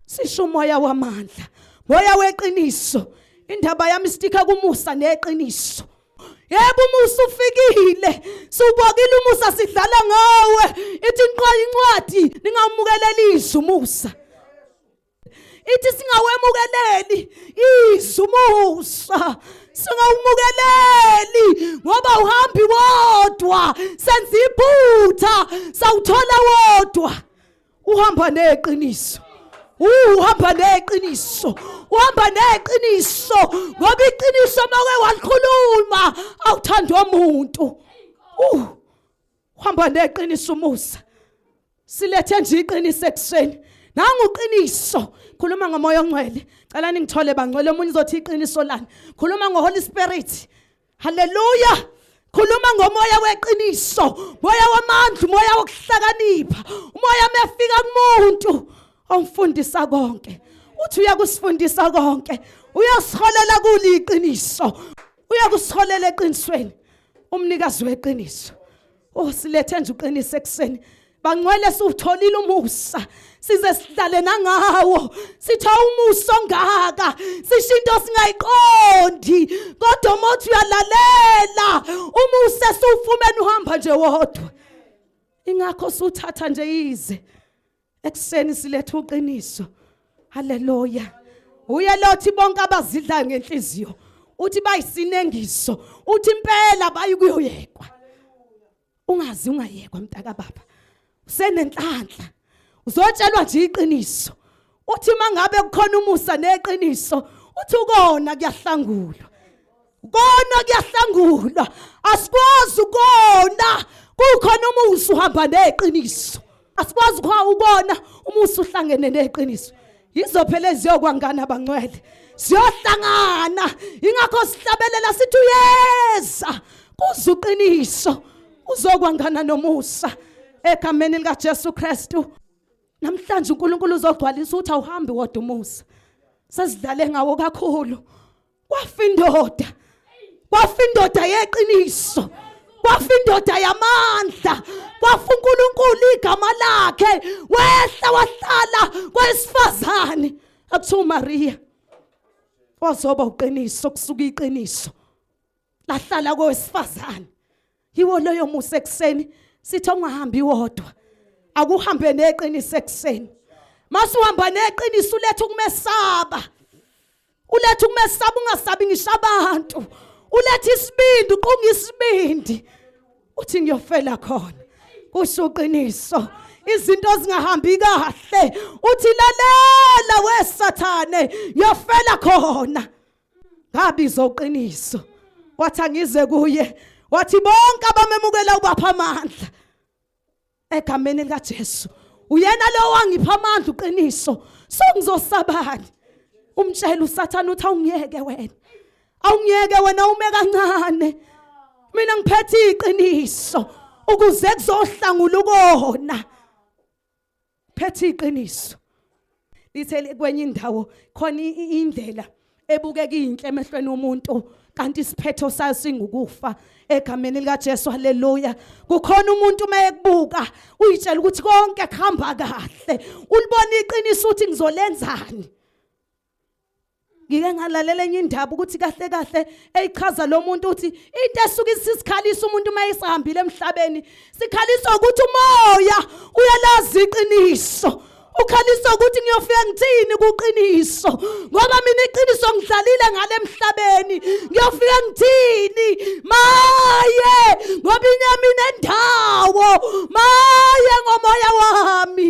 sisho umoya wamandla moya weqiniso indaba yami stika kumusa neqiniso yebo umusa ufikile siwubokile umusa sidlala ngawe ithi inqwa incwadi ningamukeleli izwi umusa ithi singawemukeleli izwi umusa singawumukeleli ngoba uhambi wodwa senza iphutha sawuthola wodwa uhamba neqiniso uhamba neqiniso uhamba neqiniso ngoba iqiniso make walikhuluma awuthanda omuntu uh uhamba neqiniso umusa silethe nje iqiniso ekuseni nangu uqiniso khuluma ngomoya ongcwele cela ningithole bangcwele omunye uzothi iqiniso lani khuluma ngoholy spirit Hallelujah. Khuluma ngomoya weqiniso, moya wamandla, umoya wokuhlakanipha, umoya mefika kumuntu omfundisa konke. Uthi uyakusifundisa konke. Uyasiholela kuli iqiniso. Uyakusiholela eqinisweni. Umnikazi weqiniso. Oh silethe nje uqinise ekseni. Bangcwele siwutholile umusa. Size sihlale nangawo. Sitha umusa ongaka. Sisho into singayiqondi. Kodwa mothi uyalalela. Umusa siwufumene uhamba nje wodwa. Ingakho suthatha nje ize. ekuseni siletha uqiniso haleluya uye lothi bonke abazidlayo ngenhliziyo uthi bayisinengiso uthi impela bayikuyoyekwa ungazi ungayekwa mntaka baba usenenhlanhla uzotshelwa nje iqiniso uthi mangabe kukhona umusa neqiniso uthi ukona kuyahlangulwa kona kuyahlangulwa asikwazi ukona kukhona umusa uhamba neqiniso asikwazi ukona umusa uhlangene neqiniso yizo phela eziyokwangana abangcwele siyohlangana ingakho sihlabelela sithi uyeza kuze uqiniso uzokwangana nomusa egameni likaJesu Kristu namhlanje uNkulunkulu uzogcwalisa ukuthi awuhambi wodwa umusa sesidlale ngawo kakhulu kwafa indoda kwafa indoda yeqiniso kwafa indoda yamandla kwafa uNkulunkulu igama lakhe wehla wahlala kwesifazane akuthiwa uMaria wazoba uqiniso kusuka iqiniso lahlala kowesifazane yiwo loyo musa ekuseni sithi ungahambi wodwa akuhambe neqiniso ekuseni masuhamba neqiniso uletha ukumesaba uletha ukumesaba ungasabi ngisho abantu uletha isibindi uqunga isibindi uthi ngiyofela khona kusho uqiniso izinto zingahambi kahle uthi lalela wesathane yofela khona ngabizwa uqiniso wathi angize kuye wathi bonke abamemukela ubapha amandla egameni likaJesu uyena lo wangipha amandla uqiniso so ngizosabani umtshela usathana uthi awungiyeke wena awungiyeke wena ume kancane mina ngiphethe iqiniso ukuze kuzohlangula ukona phethe iqiniso lithe kwenye indawo khona indlela ebukeka inhle emehlweni omuntu kanti isiphetho sayo singukufa egameni likaJesu haleluya kukhona umuntu uma ekubuka uyitshela ukuthi konke kuhamba kahle ulibona iqiniso ukuthi ngizolenzani ngike ngalalela enye indaba ukuthi kahle kahle eyichaza lo muntu uthi into esuke isisikhalisa umuntu uma esihambile emhlabeni sikhalisa ukuthi umoya uyalazi iqiniso ukhalisa ukuthi ngiyofika ngithini kuqiniso ngoba mina iqiniso ngidlalile ngale emhlabeni ngiyofika ngithini maye ngoba inyama inendawo maye ngomoya wami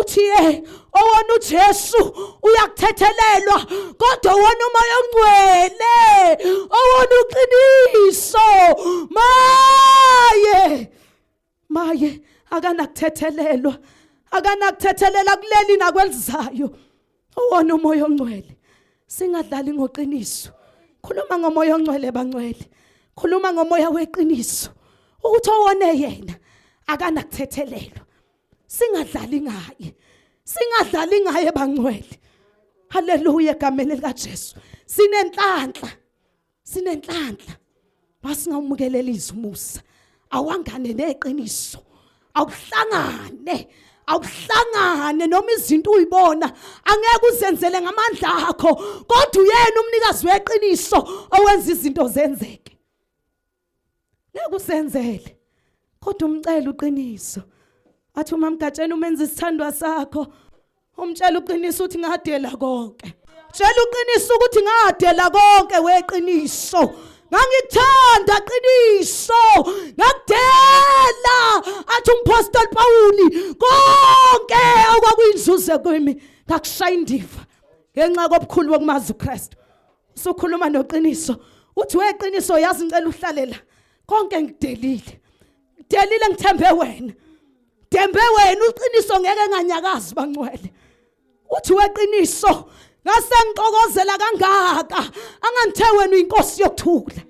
uthiye owona uJesu uyakuthethelelwa kodwa wona umoya ongcwele owona uqiniso maye maye akanakuthethelelwa akanakuthethelela kuleli nakwelizayo owona umoya ongcwele singadlali ngoqiniso khuluma ngomoya ongcwele bangcwele khuluma ngomoya weqiniso ukuthi owone yena akanakuthethelelwa singadlali ngaye singadlali ngaye bangcwele haleluya egameni likaJesu sinenhlanhla sinenhlanhla masingawumukelelisa umusa awangane neqiniso awuhlangane awuhlangane noma izinto uyibona angeke uzenzele ngamandla akho kodwa uyena umnikazi weqiniso owenza izinto zenzeke Nakusenzele. Kodwa umcela uqiniso. Athi uma mgatsheni umenza isithandwa sakho umtshela uqiniso uthi ngadela konke. Tshela uqiniso ukuthi ngadela konke weqiniso. ngangikuthanda qiniso ngakudela athi umpostoli pawuli konke okwakuyinzuze kimi ngakushaya indiva ngenxa kobukhulu bokumazi ukristu Sukhuluma noqiniso. Uthi weqiniso yazi ngicela uhlalela. Konke ngidelile. Ngidelile ngithembe wena. Dembe wena uqiniso ngeke nganyakazi bangcwele. Uthi weqiniso ngase ngixokozela kangaka angangithe wena uyinkosi yokuthula.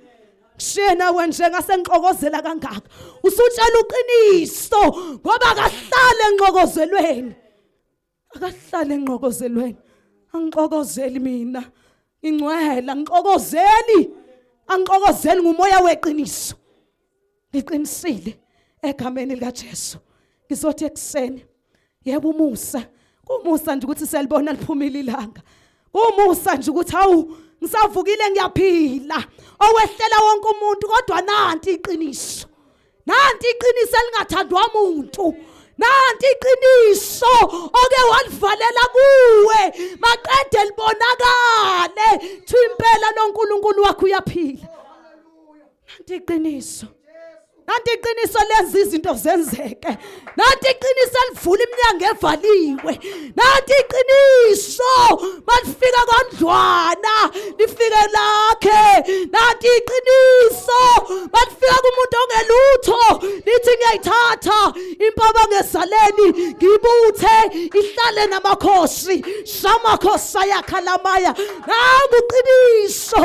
shena wenje ngasengixokozela kangaka usutshela uqiniso ngoba kahlale enxokozelweni akahlale enqokozelweni angixokozeli mina ingcwele angixokozeli angixokozeli ngumoya weqiniso ngiqinisile egameni likaJesu ngizothi ekuseni yebo umusa kumusa nje ukuthi selibona liphumile ilanga kumusa nje ukuthi hawu ngisavukile ngiyaphila owehlela wonke umuntu kodwa nanti iqiniso nanti iqiniso elingathandwa muntu nanti iqiniso oke walivalela kuwe maqede libonakale thi impela noNkulunkulu wakho uyaphila nanti iqiniso nanti iqiniso lenza izinto zenzeke nathi iqiniso elivula iminyango evaliwe nathi iqiniso malifika kondlwana lifike lakhe nathi iqiniso malifika kumuntu ongelutho lithi ngiyayithatha impaba ngezaleni ngibuthe ihlale namakhosi samakhosi ayakhalamaya nangu qiniso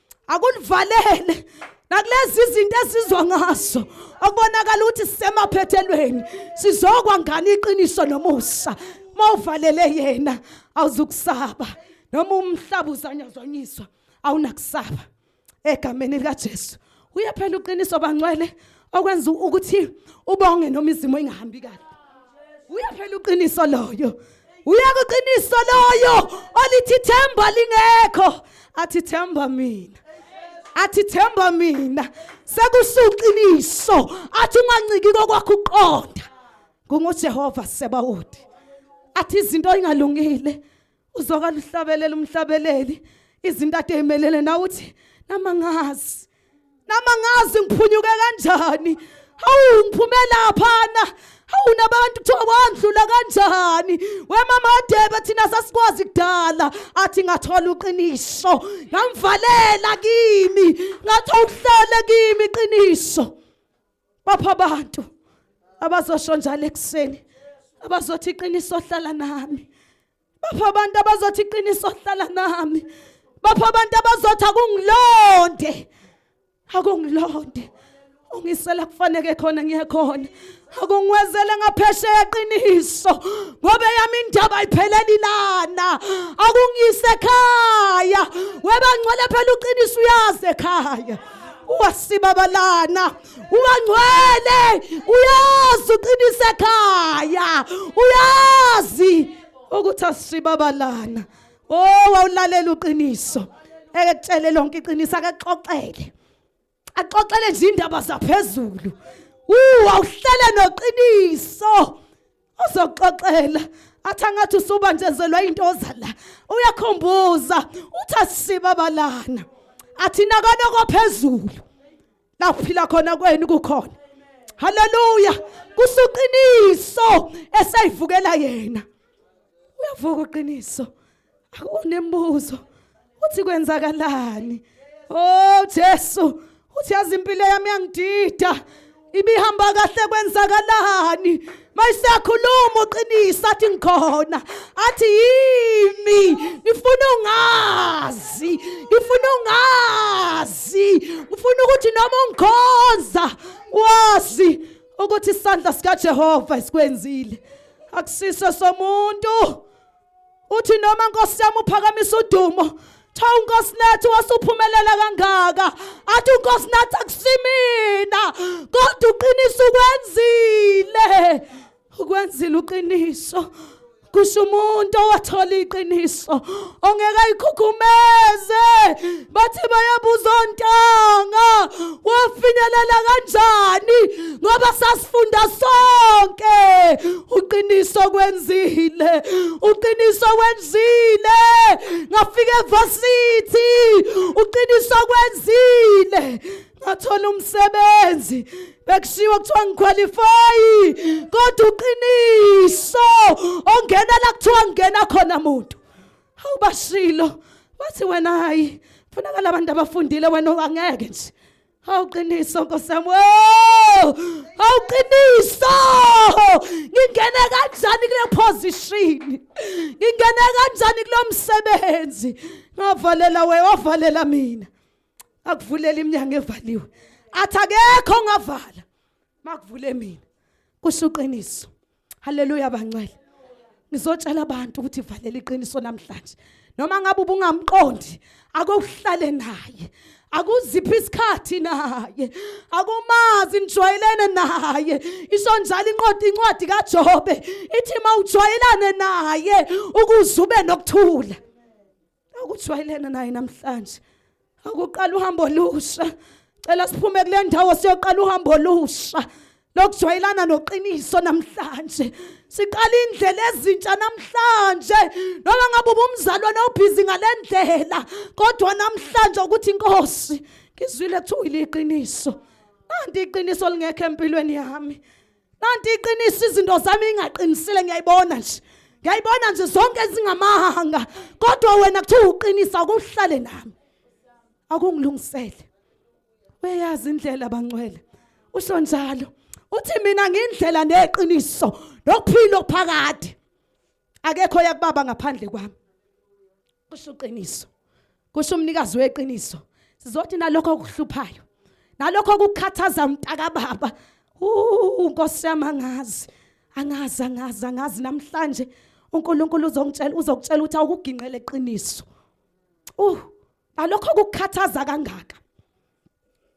akulivalele nakulezi izinto esizwa ngazo okubonakala ukuthi sisemaphethelweni sizokwa ngani iqiniso nomusa uma uvalele yena awuzukusaba noma umhlaba uzanyazanyiswa awunakusaba egameni likaJesu uye phela uqiniso bangcwele okwenza ukuthi ubonge noma izimo ingahambi kahle uyaphela uqiniso loyo uyeka uqiniso loyo olithi themba lingekho athi themba mina athi themba mina sekusuqiniso athi unganciki kokwakho uqonda ngungujehova sebawuthi athi izinto ingalungile uzwakala uhlabelela umhlabeleli izinto ade emelele nawe uthi nama ngazi nama ngazi ngiphunyuke kanjani hawu ngiphume laphana hawu nabantu kuthiwa wandlula kanjani wemama adebe thina sasikwazi kudala athi ngathola uqiniso ngamvalela kimi ngathi awuhlele kimi iqiniso bapha abantu abazosho njalo ekuseni abazothi iqiniso hlala nami bapha abantu abazothi iqiniso hlala nami bapha abantu abazothi akungilonde akungilonde ungisela kufaneke khona ngiyekhona akungiwezele ngaphesheya qiniso ngoba yami indaba ayipheleli lana akungiyise ekhaya webangcwele phela uqiniso uyazi ekhaya wasibabalana ungangcwele uyazi uqinise ekhaya uyazi ukuthi asibabalana oh wawulalela uqiniso eke kutshele lonke iqiniso akaxoxele axoxele nje indaba zaphezulu uwawuhlele noqiniso uzoxoxela athi angathi usuba njezelwa into oza la uyakhumbuza uthi asisiba abalana athina kona kophezulu la kuphila khona kwenu kukhona haleluya kusuqiniso esayivukela yena uyavuka uqiniso akunembuzo uthi kwenzakalani oh Jesu uthi yazi impilo yami yangidida ibihamba kahle kwenzakalani mayisakhuluma uqinisa athi ngikhona athi yimi ngifuna ungazi ngifuna ungazi ngifuna ukuthi noma ungikhonza wazi ukuthi isandla sikaJehova esikwenzile akusiso somuntu uthi noma nkosi yami uphakamisa udumo cha unkosi nathi wasuphumelela kangaka athi unkosi nathi akusimina kodwa uqiniso ukwenzile ukwenzile uqiniso kusho umuntu owathola iqiniso ongeke ayikhukhumeze bathi bayabuza ontanga wafinyelela kanjani ngoba sasifunda sonke uqiniso kwenzile uqiniso kwenzile ngafika evasithi uqiniso kwenzile ngathola umsebenzi bekushiwo kuthiwa ngikhwalifayi kodwa uqiniso ongena la kuthiwa ngena khona muntu awubashilo bathi wena hayi kufunakala abantu abafundile wena angeke nje awuqiniso nkosi yami awuqiniso ngingene kanjani kule position ngingene kanjani kulo msebenzi ngavalela we wavalela mina akuvulela iminyango evaliwe athi akekho ngavala makuvule mina kusho uqiniso haleluya bancele ngizotshela abantu ukuthi valela iqiniso namhlanje noma ngabe ubungamqondi akuhlale naye akuziphi isikhathi naye akumazi nijwayelene naye isho njalo inqoda incwadi kaJobe ithi mawujwayelane naye ukuze ube nokuthula akujwayelene naye namhlanje akuqala uhambo olusha cela siphume kule ndawo siyoqala uhambo olusha lokujwayelana noqiniso namhlanje siqala indlela ezintsha namhlanje noma ngabe ubumzalwane obhizi ngale ndlela kodwa namhlanje ukuthi inkosi ngizwile kuthiwa iqiniso nanti iqiniso lingekho empilweni yami kanti iqiniso izinto zami ingaqinisile ngiyayibona nje ngiyayibona nje zonke ezingamahanga kodwa wena kuthiwa uqinisa akuhlale nami akungilungisele uyayazi indlela bangcwele usho njalo uthi mina ngindlela neqiniso nokuphila okuphakade akekho yakubaba ngaphandle kwami kusho uqiniso kusho umnikazi weqiniso sizothi nalokho okuhluphayo nalokho okukhathaza umntaka baba unkosi yami angazi angazi angazi angazi namhlanje uNkulunkulu uzongitshela uzokutshela ukuthi awukugingqele iqiniso uh nalokho okukhathaza kangaka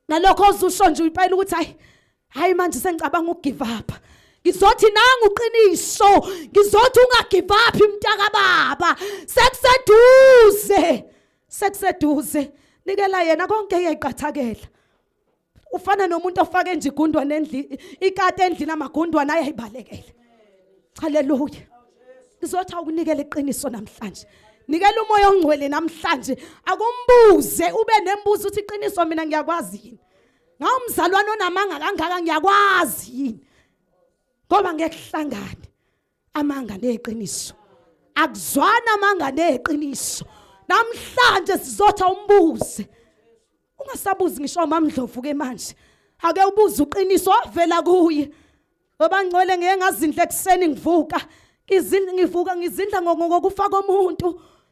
nalokho ozusho nje uyipayela ukuthi hayi hayi manje sengicabanga ukugive up ngizothi nangu uqiniso ngizothi ungagive up mntaka baba sekuseduze sekuseduze nikela yena konke eyayiqathakela ufana nomuntu ofake nje igundwana endlini ikati endlini amagundwana ayayibalekele haleluya Ngizothi awukunikela iqiniso namhlanje. Nikela umoya ongcwele namhlanje. Akumbuze ube nembuzo uthi iqiniso mina ngiyakwazi yini. Ngawumzalwane onamanga kangaka ngiyakwazi yini. Ngoba ngekuhlangane amanga neqiniso. Akuzwana amanga neqiniso. Namhlanje sizotha umbuze. ungasabuzi ngisho amamdlovu ke manje ake ubuze uqiniso wavela kuye babangcwele ngeke ngazindla ekuseni ngivuka ngizindla ngivuka ngizindla ngokufa komuntu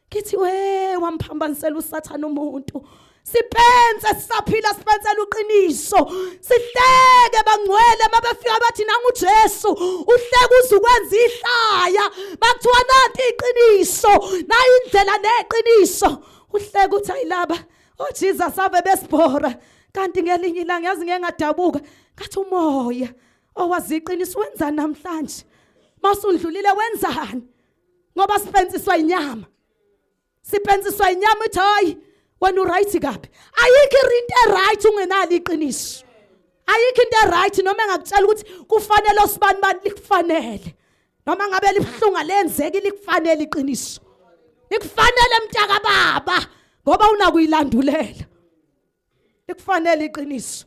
ngithi we wamphambanisela usathana umuntu sipense sisaphila sipensela uqiniso sihleke bangcwele mabefika bathi nangu Jesu uhleke uzukwenza ihlaya bakuthiwa nanti iqiniso nayi indlela neqiniso uhleke uthi ayilaba Oh Jesus ave besibhora kanti ngelinye ilanga yazi ngeke ngadabuka ngathi umoya owaziqinisa oh, wenza namhlanje masundlulile wenzani ngoba siphensiswa inyama siphensiswa inyama ithi hayi wena uright kabi ayikho into eright ungenalo iqiniso ayikho into eright noma engakutshela ukuthi kufanele osibani bani likufanele noma ngabe libuhlunga lenzeki likufanele iqiniso likufanele mntaka baba ngoba unakuyilandulela likufanele iqiniso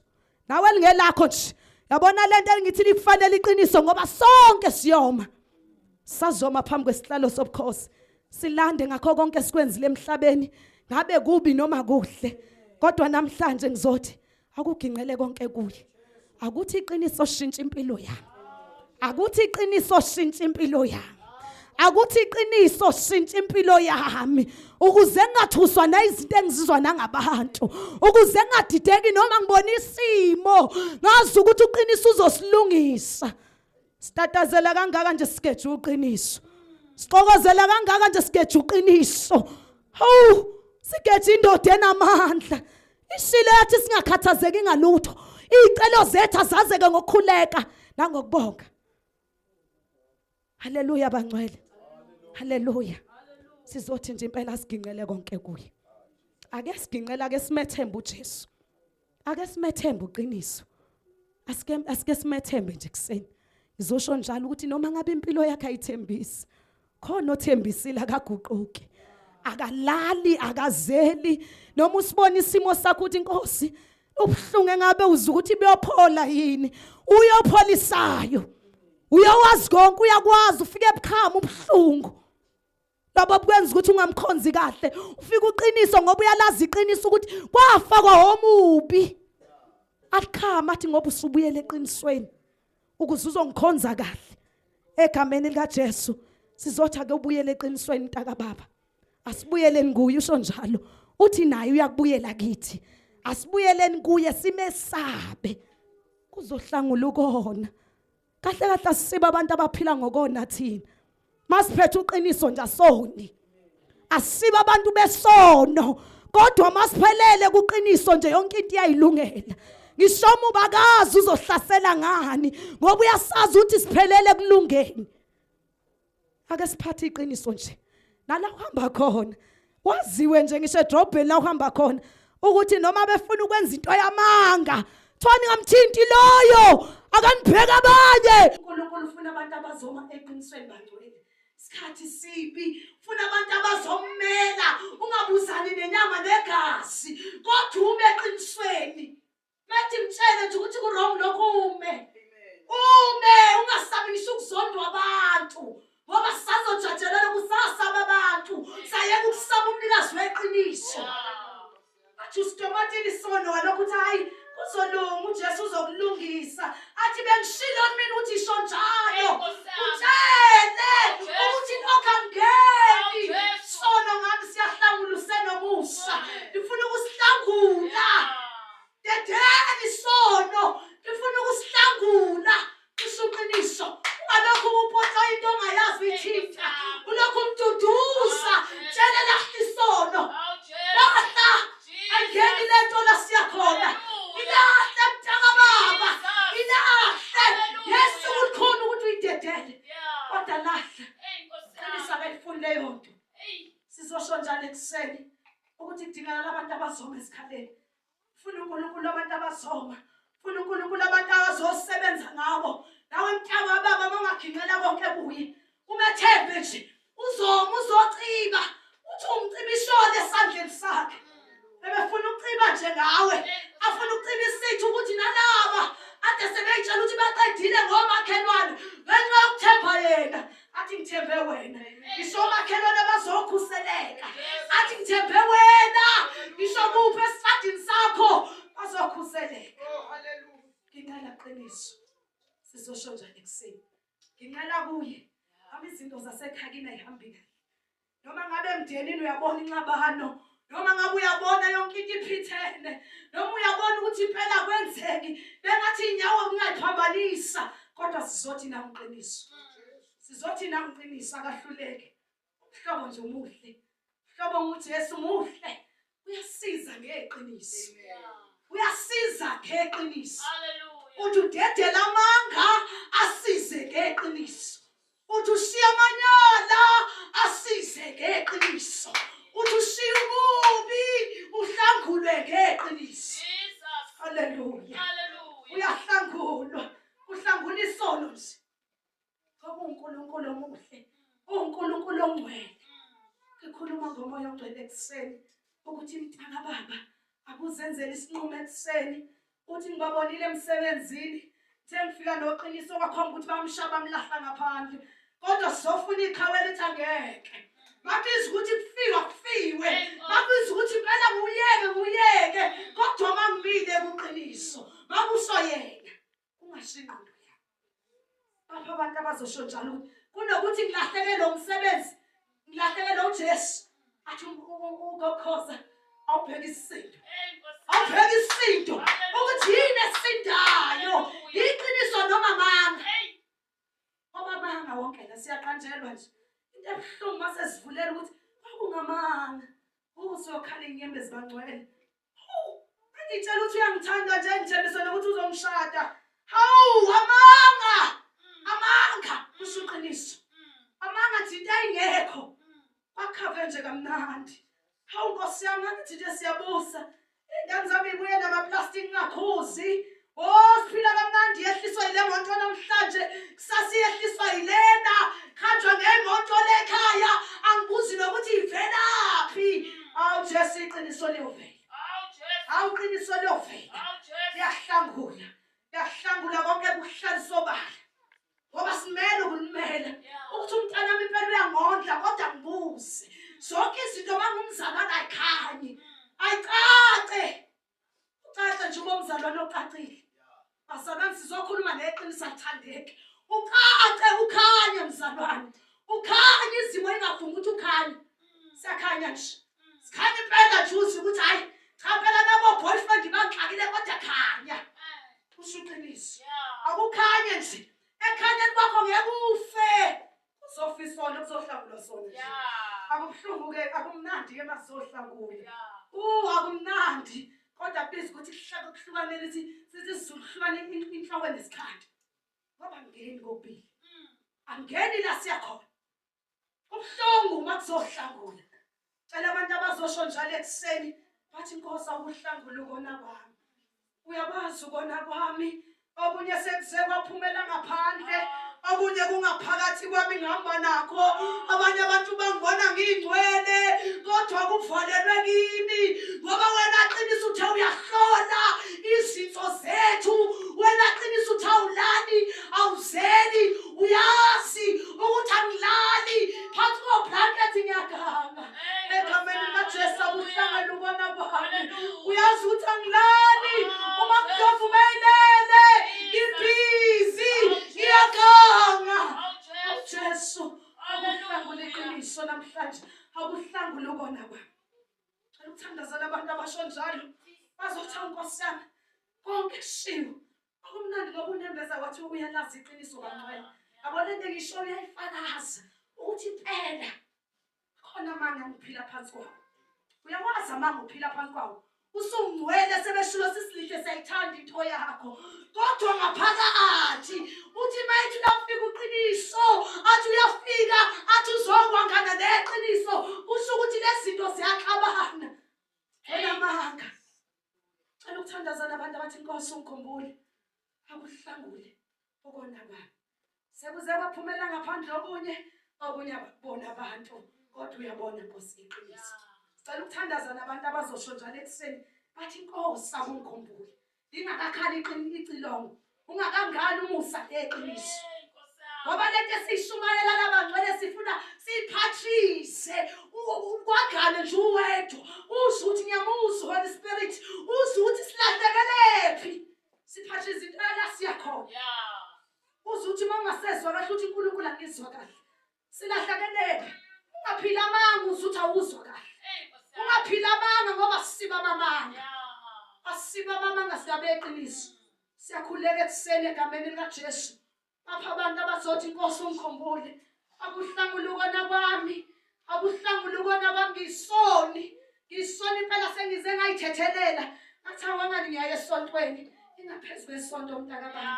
nawe lingelakho nje yabona lento engithi likufanele iqiniso ngoba sonke siyoma sazoma phambi kwesihlalo sobukhosi silande ngakho konke sikwenzile emhlabeni ngabe kubi noma kuhle kodwa namhlanje ngizothi akuginqele konke kuye akuthi iqiniso shintsha impilo yami akuthi iqiniso shintsha impilo yami akuthi iqiniso shintsha impilo yami ukuze ngingathuswa nayizinto engizizwa nangabantu ukuze ngingadideki noma ngibona isimo ngazi ukuthi uqiniso uzosilungisa Sitatazela kangaka nje sikeje uqiniso. Sixokozela kangaka nje sikeje uqiniso. Hawu, sikeje indoda enamandla. Ishile yathi singakhathazeki ngalutho. Izicelo zethu azazeke ngokukhuleka nangokubonga. Haleluya bangcwele. Haleluya. Sizothi nje impela siginqele konke kuye. Ake siginqela ke simethembe uJesu. ake simethembe uqiniso asike asike simethembe nje kuseni ngizosho njalo ukuthi noma ngabe impilo yakhe ayithembisi khona othembisile akaguquki akalali akazeli noma usibona isimo sakho ukuthi inkosi ubuhlungu engabe uza ukuthi buyophola yini uyopholisayo uyowazi konke uyakwazi ufike ebukhama ubuhlungu labo kwenza ukuthi ungamkhonzi kahle ufika uqiniso ngoba uyalazi iqiniso ukuthi kwafakwa omubi akhama athi ngoba usubuyele eqinisweni ukuze uzongikhonza kahle egameni likaJesu sizotha ke ubuyele eqinisweni mntaka baba asibuyeleni kuye usho njalo uthi naye uyakubuyela kithi asibuyeleni kuye simesabe kuzohlangula ukona kahle kahle asisibe abantu abaphila ngokona thina masiphethe uqiniso nje asoni asibe abantu besono kodwa masiphelele kuqiniso nje yonke into iyayilungela ngisho uma ubakazi uzohlasela ngani ngoba uyasazi ukuthi siphelele kulungeni ake siphathe iqiniso nje nala uhamba khona waziwe nje ngisho edrobheni la uhamba khona ukuthi noma befuna ukwenza into yamanga kuthiwa ningamthinti loyo akanibheka abanye unkulunkulu ufuna abantu abazoma eqinisweni bangcwele isikhathi sibi funa abantu abazommela ungabuzani nenyama negazi kodwa ume eqinisweni Ngathi mtshele nje ukuthi kurong lokho ume. Ume ungasabi ngisho ukuzondwa abantu. Ngoba sazojajelela kusasaba abantu. Sayeka ukusaba umnikazi weqiniso. Athi usitomatini sono walokho ukuthi hayi kuzolunga uJesu uzokulungisa. athi bengishilo mina ukuthi isho njalo utshele ukuthi lokho angeni sono ngami siyahlangula usenomusa ngifuna ukusihlangula dedeni sono ngifuna ukusihlangula kusho uqiniso ungalokhu upotsa into ongayazi uyithinta ulokhu umduduza tshele lahla isono lahla angeni lento la siyakhona ilahle mntaka baba ilahle yesu kulikhona ukuthi uyidedele kodwa lahle qinisa kayifuni leyo nto sizosho njalo ekuseni ukuthi kudingakala abantu abazoma esikhaleni funa unkulunkulu abantu abazoma funa unkulunkulu abantu abazosebenza ngabo nawe mntaka wababa mangagingqela konke kuye umethembe nje uzoma uzociba uthi umciba ishole esandleni sakhe bebefuna ukuciba nje ngawe afuna ukuciba isithi ukuthi nalaba ade sebeyitshela ukuthi baqedile ngomakhelwane ngenxa yokuthemba yena athi ngithembe wena ngisho omakhelwane bazokhuseleka athi ngithembe wena ngisho kuphi esitradini sakho bazokhuseleka oh, ngicela qiniso sizosho njani ekuseni nginqela kuye hamba izinto zasekhakini ayihambi kahle noma ngabe emndenini uyabona inxabano noma ngabe uyabona yonke into iphithene noma uyabona ukuthi impela kwenzeki bengathi inyawo kungayiphambanisa kodwa sizothi na uqiniso sizothi na uqiniso akahluleke uhlobo nje umuhle uhlobo ukuthi yesu muhle uyasiza ngeqiniso uyasiza ngeqiniso uthi udedela amanga asize ngeqiniso uthi ushiya amanyala asize ngeqiniso uthi ushiya ububi uhlangulwe ngeqiniso haleluya uyahlangulwa uhlangula isono nje ngoba uNkulunkulu omuhle uNkulunkulu ongcwele ngikhuluma ngomoya ogcwele ekuseni ukuthi mtaka baba akuzenzele isinqumo ekuseni uthi ngibabonile emsebenzini sengifika noqiniso kwakhomba ukuthi bamshaya bamlahla ngaphandle kodwa sizofuna iqhawe elithi angeke babiza ukuthi kufiwa kufiwe babiza ukuthi impela nguyeke nguyeke kodwa uma ngimile kuqiniso bakuso yena kungasho ingqondo yabo bapha abantu abazosho njalo ukuthi kunokuthi ngilahleke lo msebenzi ngilahleke lo jesu athi um, um, um, ukokhoza awubheka isinto awubheka isinto ukuthi yini esindayo yiqiniso noma manga ngoba manga wonke la siyaqanjelwa nje into ebuhlungu uma sesivulela ukuthi kwakungamanga usuyokhala inyembezi bangcwele Hawu, engitshela ukuthi uyangithanda nje ngithembise nokuthi uzongishada. Hawu, amanga! Amanga! Kusho iqiniso. Amanga athi into ayingekho. Bakhave nje kamnandi. Hawu Nkosi yami, angithi nje siyabusa. Ingane zami ibuye namaplastic ngakhuzi. Oh siphila kamnandi yehliswa yile moto namhlanje kusasa iyehliswa yilena kuhanjwa ngemoto lekhaya angibuzi nokuthi ivelaphi awu Jesu iqiniso liyovela awu qiniso liyovela liyahlangula liyahlangula konke kuhlalisobala ngoba simele ukunimela ukuthi umntana wami impela uyangondla kodwa ngibuze zonke izinto mangumzalwana ayikhanyi ayicace ucace nje uma umzalwane ocacile basebenzi sizokhuluma neqiniso athandeki ucace ukhanye mzalwane ukhanye izimo ingavumi ukuthi ukhanye siyakhanya nje sikhanye impela juzi ukuthi hhayi cha phela nabo boyfriend bangihlakile kodwa khanya usho iqiniso akukhanye nje ekhanyeni kwakho ngeke ufe Kuzofiswana kuzohlangulwa sona nje. Akubuhlungu ke akumnandi ke masohlangula. Uh akumnandi kodwa please ukuthi kuhlaka kuhlukanele ukuthi sithi sizohlukana inhloko nesikhathi. Ngoba ngeni kopili. Mm. Angeni la siyakhona. Kubuhlungu uma kuzohlangula. cela abantu abazosho njalo ekuseni bathi nkosi awuhlangula ukona kwami uyakwazi ukona kwami okunye sekuze kwaphumela ngaphandle okunye kungaphakathi kwami ngihamba nakho abanye abantu bangibona ngiyingcwele kodwa kuvalelwe kimi ngoba wena qinisa uthe uyahlola izinto zethu wena qinisa uthe awulali awuzeli uyazi ukuthi angilali phansi koblankethi ngiyaganga egameni likajesu akuhlangana ubona kwami uyazi ukuthi angilali uma mdlovu meyilele ibhizi ngiyaganga jesu akuhlangule iqiniso namhlanje akuhlangule ukona kwami aluthandazela abantu abasho njalo bazothi ankosi yami konke kushiwo Kwakumnandi ngoba unembeza wathi uyalazi iqiniso kancwela. Yabona into engisho uyayifakaza ukuthi impela khona amanga ngiphila phansi kwawo. Uyawazi amanga uphila phansi kwawo. Usungcwele sebeshulo sisilihle sayithanda into yakho. Kodwa ngaphakathi uthi mayithi lafika uqiniso, athi uyafika, athi uzokwa ngana neqiniso. Kusho ukuthi lezinto ziyaxabana. Hey amanga. Cela ukuthandaza nabantu abathi inkosi ungikhumbule. Akuhlangule okona baba. Sekuze kwaphumela ngaphandle okunye okunye abakubona abantu kodwa uyabona inkosi iqiniso. Cela ukuthandaza nabantu abazosho njalo ekuseni bathi inkosi akungikhumbule. Ingakakhali iqini icilongo Ungakangani umusa leqiniso. Ngoba lento esishumayela labangcwele sifuna siphathise ukwagane nje uwedwa. Uze ukuthi ngiyamuzwa Holy Spirit, uze ukuthi silahlekelephi. Siphathise izinto la siyakhona. Yeah. Uze ukuthi uma ungasezwa kahle uthi uNkulunkulu angizwa kahle. Silahlakeleka. Ungaphila amanga uzuthi awuzwa kahle. Ungaphila amanga ngoba siba amanga. Asiba amanga siyabe eqiniso. Siyakhuleka ekuseni egameni likaJesu. Apha abantu abazothi inkosi ungikhumbule. Akuhlangula ukona kwami. Akuhlangula ukona kwami ngisoni. Ngisoni impela sengize ngayithethelela. Ngathi awangani ngiyaye esontweni. Ingaphezulu esonto mntaka baba.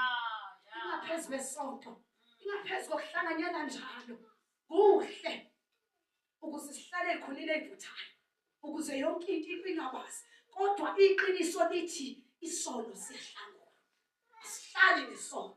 Ingaphezulu esonto. Yeah. Ingaphezu kokuhlanganyela njalo, kuhle ukuze sihlale khonile evuthayo ukuze yonke into ingabazi kodwa iqiniso lithi isono siyahlangula. Asihlali nesono.